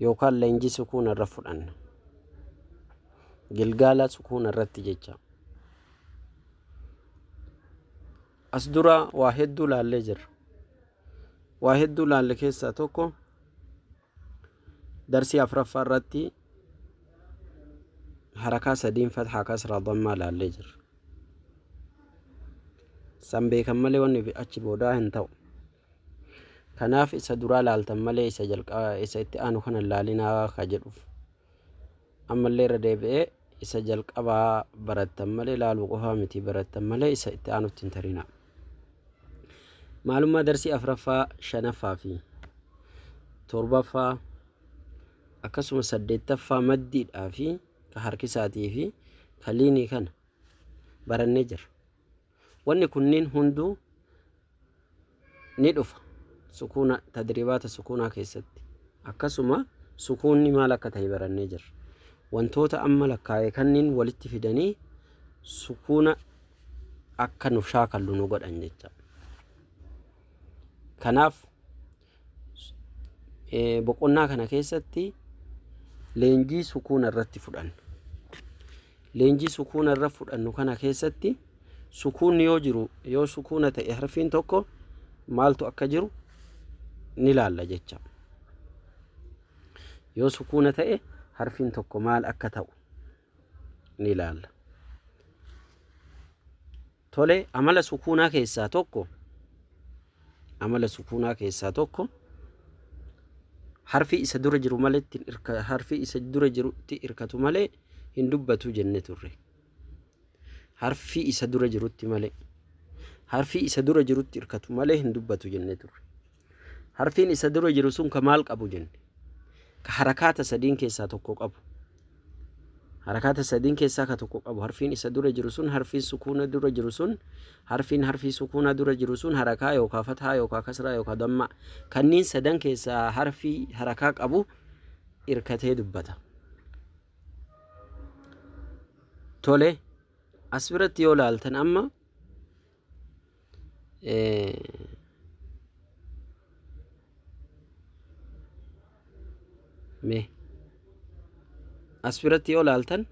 yookaan leenjii sukuuna irra fudhanna. Gilgaala sukuuna irratti jecha. As dura waa hedduu laallee jirra. Waa hedduu laalle keessaa tokko darsii afraffaa irratti harakaa sadiin fathaa kasraa dammaa laallee jirra. San beekan malee wanni achi boodaa hin ta'u. Kanaaf isa duraa laaltan malee isa jalqaba isa itti aanu kana hin laalinaa ka jedhuuf. Ammallee irra deebi'ee isa jalqabaa barattan malee laaluu qofaa miti barattan malee isa itti aanutti hin tarinaa. Maalummaa darsii afraffaa, shanaffaa fi torbaffaa akkasuma saddeettaffaa maddiidhaa fi ka harkisaatii fi ka liinii kana barannee jira. Wanni kunniin hunduu ni dhufa sukuuna tadriibaata sukuunaa keessatti. Akkasuma sukuunni maal akka tahe barannee jirra. Wantoota amma lakkaa'e kanniin walitti fidanii sukuuna akka nu shaakallu nu godhan jecha. Kanaaf Boqonnaa kana keessatti leenjii sukuuna irratti fudhanna. Leenjii sukuuna irra fudhannu kana keessatti sukuunni yoo jiru yoo sukuuna ta'e harfiin tokko maaltu akka jiru ni laalla jecha. Yoo sukuuna ta'e harfiin tokko maal akka ta'u ni laalla. Tole, amala sukuunaa keessaa tokko amala sukuunaa keessaa tokko harfi isa dura jiru malee ittiin irka- harfi isa dura jirutti irkatu malee hin dubbatu jenne turre. Harfi isa dura jirutti malee harfi isa dura jirutti irkatu malee hin dubbatu jenne turre. Harfiin isa dura jiru sun ka maal qabu jenne? Ka harakaata sadiin keessaa tokko qabu. Harakaata sadiin keessaa ka tokko qabu. Harfiin isa dura jiru sun harfiin sukuuna dura jiru sun harfiin harfii sukuunaa dura jiru sun harakaa yookaa fathaa yookaa kasraa yookaa dammaa kanniin sadan keessaa harfii harakaa qabu irkatee dubbata. Tole as biratti yoo laaltan amma mee as biratti yoo laaltan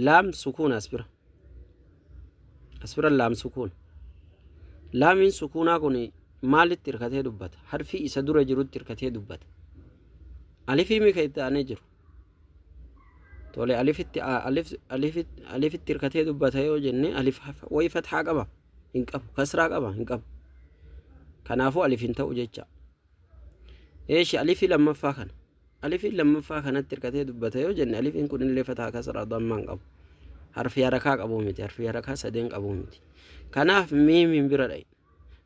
laam sukuun as bira as bira laam sukuun laamiin sukuunaa kun maalitti hirkatee dubbata harfii isa dura jirutti hirkatee dubbata alifii mika itti aanee jiru tole alifitti alif alif alifitti hirkatee dubbata yoo jenne alif wayi fathaa qaba hin qabu kasraa qaba hin qabu kanaafuu alif hin ta'u jecha eeshi alifii lammaffaa kana alifiin lammaffaa kanatti hirkatee dubbata yoo jenne alifiin kun illee fathaa kasraa dammaa hin qabu harfii harakaa qabu miti harfii harakaa sadeen qabu miti kanaaf miimiin bira dha'i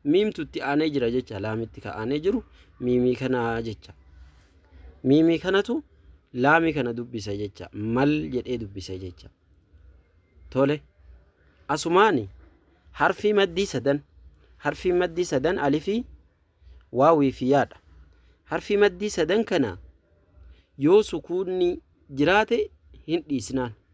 miimtu itti aanee jira jecha laamitti ka aanee jiru miimii kanaa jecha miimii kanatu laamii kana dubbisa jecha mal jedhee dubbisa jecha tole asumaani harfii maddii sadan harfii maddii sadan alifii waawii fi yaadha harfii maddii sadan kana yoo sukuunni jiraate hin dhiisnaan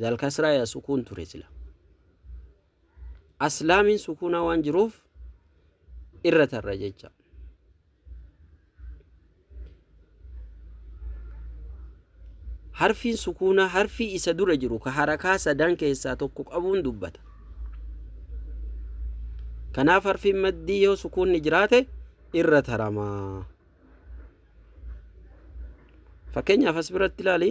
Zal kasraa yaa sukuun ture sila. As laamiin sukuunaa waan jiruuf irra tarra jecha. Harfiin sukuunaa harfii isa dura jiru ka harakaa sadan keessaa tokko qabuun dubbata. Kanaaf harfiin maddii yoo sukuunni jiraate irra taramaa. Fakkeenyaaf as biratti ilaali.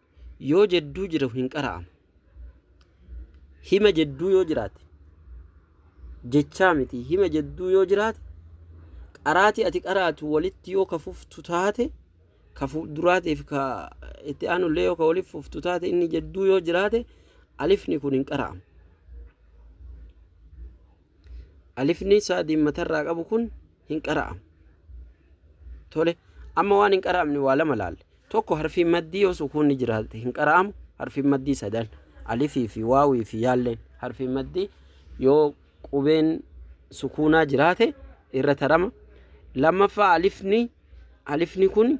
yoo jedduu jiru hin qara'amu. Hima jedduu yoo jiraate jechaa miti hima jedduu yoo jiraate qaraatii ati qaraatu walitti yoo ka fuftu taate ka fuulduraatiif ka itti aanullee yoo ka waliif fuftu taate inni jedduu yoo jiraate alifni kun hin qara'amu. Alifni isaa diimmatarraa qabu kun hin qara'amu. Tole, amma waan hin qara'amne waa lama laalle. Tokko harfiin maddii yoo sukuunni jiraate hin qara'amu, harfiin maddii sadan alifii fi waawii fi yaalleen harfiin maddii yoo qubeen sukuunaa jiraate irra tarama. Lammaffaa alifni alifni kun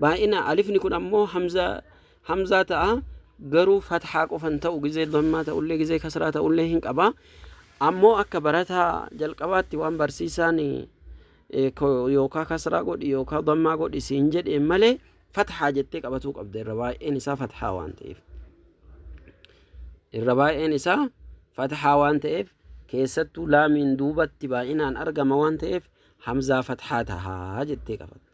baay'ina alifni kun ammoo hamzaa hamzaa ta'a garuu fathaa qofan ta'u gizee dammaa ta'ullee gizee kasraa ta'ullee hin qaba ammoo akka barataa jalqabaatti waan barsiisaan yookaa kasraa godhi yookaa dammaa godhi siin jedheen malee fathaa jettee qabatuu qabda irra baay'een isaa fathaa waan ta'eef irra baay'een isaa fathaa waan ta'eef keessattuu laamiin duubatti baay'inaan argama waan ta'eef hamzaa fathaa tahaa jettee qabatte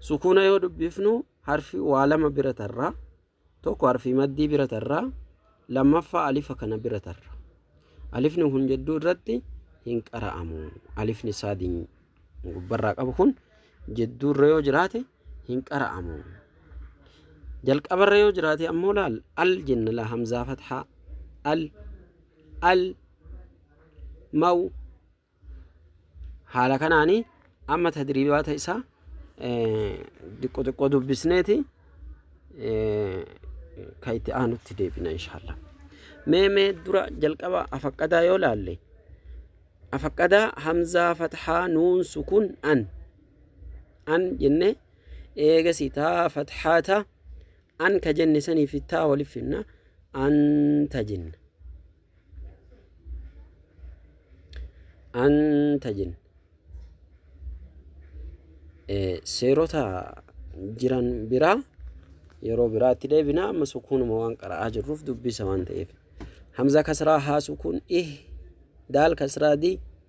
sukuuna yoo dubbifnu harfi waa lama bira tarra tokko harfi maddii bira tarra lammaffaa alifa kana bira tarra alifni kun jidduu irratti hin qara'amu alifni saadiin gubbarraa qabu kun jidduu irra yoo jiraate hin qara'amu jalqabarra yoo jiraate ammoo laal al jenna la hamzaa fathaa al al maw haala kanaan amma tadriibaata isaa xiqqoo xiqqoo dubbisneeti ka itti aanutti deebina inshaalla mee mee dura jalqaba afaqqadaa yoo laalle afaqqadaa hamzaa fathaa nuun sukun an an jenne eegasi taa fathaa ta an ka jenne saniifi taa waliif finna anta jenna Anta jin seerota jiran biraa yeroo biraatti deebina amma sukuunuma waan qara'aa jirruuf dubbisa waan ta'eef hamza kasraa haa sukuun ih daal kasraa dii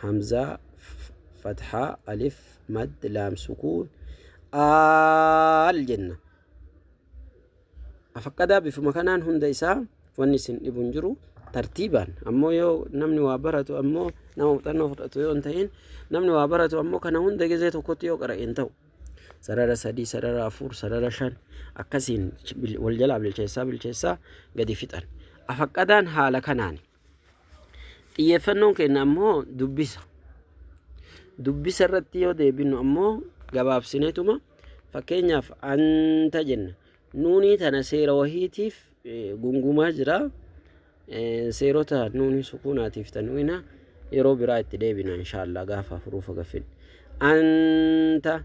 hamzaa fathaa alif mad laam sukuun aal jenna afaqqadaa bifuma kanaan hunda isaa wanni isin dhibu hin jiru tartiibaan ammoo yoo namni waa baratu ammoo nama muuxannoo fudhatu yoo hin ta'in namni waa baratu ammoo kana hunda gizee tokkotti yoo qara'e hin ta'u sarara sadii sarara afur sarara shan akkasiin wal jalaa bilcheessaa bilcheessaa gadi fixan afaqqadaan haala kanaani Xiyyeeffannoon keenya ammoo dubbisa. Dubbisa irratti yoo deebinu ammoo gabaabsineetuma fakkeenyaaf anta jenna. Nuunii tana seera wahiitiif gungumaa jira. Seerota nuunii sukuunaatiif tanwiina yeroo biraa itti deebina inshaallah gaafa huruufa gaffin. Anta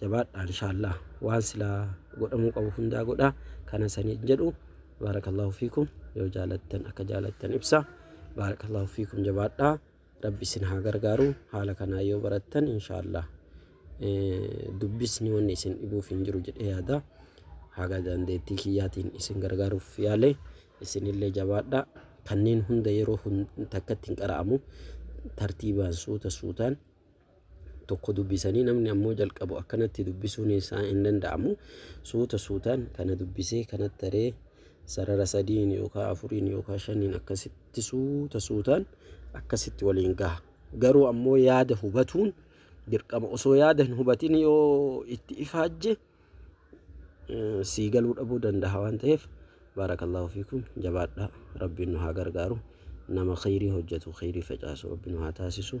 jabaadha inshaallaa waan silaa godhamuu qabu hundaa godha kana saniin jedhu baarakallahu fiikum yoo jaalattan akka jaalattan ibsa baarakallahu fiikum jabaadha rabbi isin haa gargaaru haala kanaa yoo barattan inshaallaa dubbisni wanni isin dhibuuf hin jiru jedhee yaada haga dandeettii kiyyaatiin isin gargaaruuf yaale isinillee jabaadha kanneen hunda yeroo takkatti hin qara'amu tartiibaan suuta suutaan tokko dubbisanii namni ammoo jalqabu akkanatti dubbisuun isaa hin danda'amu. Suuta suutaan kana dubbisee kana taree sarara sadiin yookaan afuriin yookaan shaniin akkasitti suuta suutaan akkasitti waliin gaha. Garuu ammoo yaada hubatuun dirqama osoo yaada hin hubatin yoo itti ifaajje eh, sii galuu dhabuu danda'a waan ta'eef baarakallahu fiikum jabaadha rabbiin nu haa gargaaru nama khayrii hojjetu khayrii facaasu rabbiin nu haa taasisu